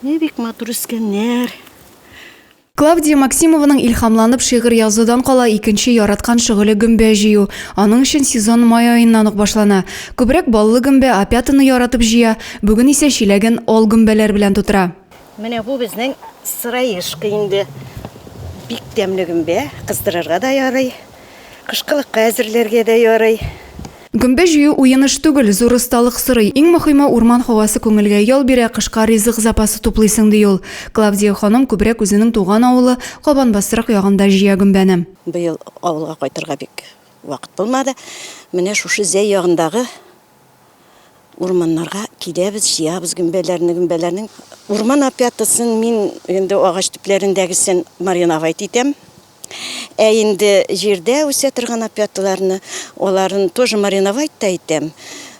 Менә бик матур үскәннәр. Клавдия Максимованың илһамланып шигырь язудан кала икенче яраткан шөгыле гөмбә җыю. Аның өчен сезон май аеннан ук башлана. Күбрәк баллы гөмбә, опятаны яратып җыя, бүген исә чиләген ал гөмбәләр белән тутыра. Менә бу безнең сыраешка инде. Бик тәмле гөмбә, кыздырырга да ярый. Кышкылыкка әзерләргә дә ярый. Гөмбә җыю уеныш түгел, зур осталык сорый. Иң мохиме, урман һавасы күңелгә ял бирә, кышка ризык запасы туплыйсың, ди ул. Клавдия ханым күбрәк үзенең туган авылы Кабанбастрак ягында җыя гөмбәне. Быел авылга кайтырга бик вакыт булмады. Менә шушы Зәй ягындагы Урманнарга киләбез, җыябыз гөмбәләрне, гөмбәләрнең урман опятасын мин инде агач төпләрендәгесен мариновать итәм. Ә инде җирдә үсә торган опяталарны, аларын тоже мариновать та итәм,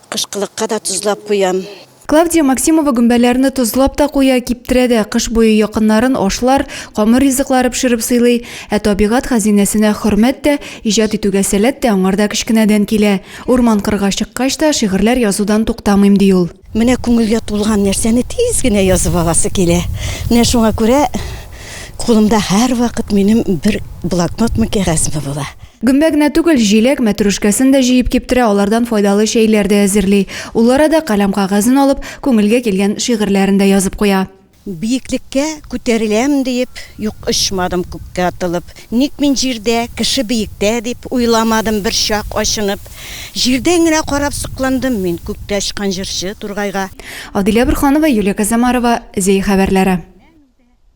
кышкылыкка да тозлап куям. Клавдия Максимова гөмбәләрне тозлап та куя, киптерә дә, кыш буе якыннарын ашлар, камыр ризыклары пешереп сыйлый. Ә табигать хәзинәсенә хөрмәт тә, иҗат итүгә сәләт тә аңарда кечкенәдән килә. Урман-кырга чыккач та, шигырьләр язудан туктамыйм, ди ул. Менә күңелгә тулган нәрсәне тиз генә язып аласы килә. Менә шуңа күрә кулымда һәрвакыт минем бер блокнотмы, кәгазьме була. Гөмбә генә түгел, җиләк, мәтрүшкәсен дә җыеп киптерә, алардан файдалы чәйләр дә әзерли. Ул арада каләм-кәгазен алып, күңелгә килгән шигырьләрен дә язып куя. Биеклеккә күтәреләм диеп, юк очмадым күккә атылып. Ник мин җирдә, кеше биектә дип, уйламадым берчак ачынып. Җирдән генә карап сокландым мин күктә очкан җырчы Тургайга. Адилә Борһанова, Юлия Козомарова, Зәй хәбәрләре.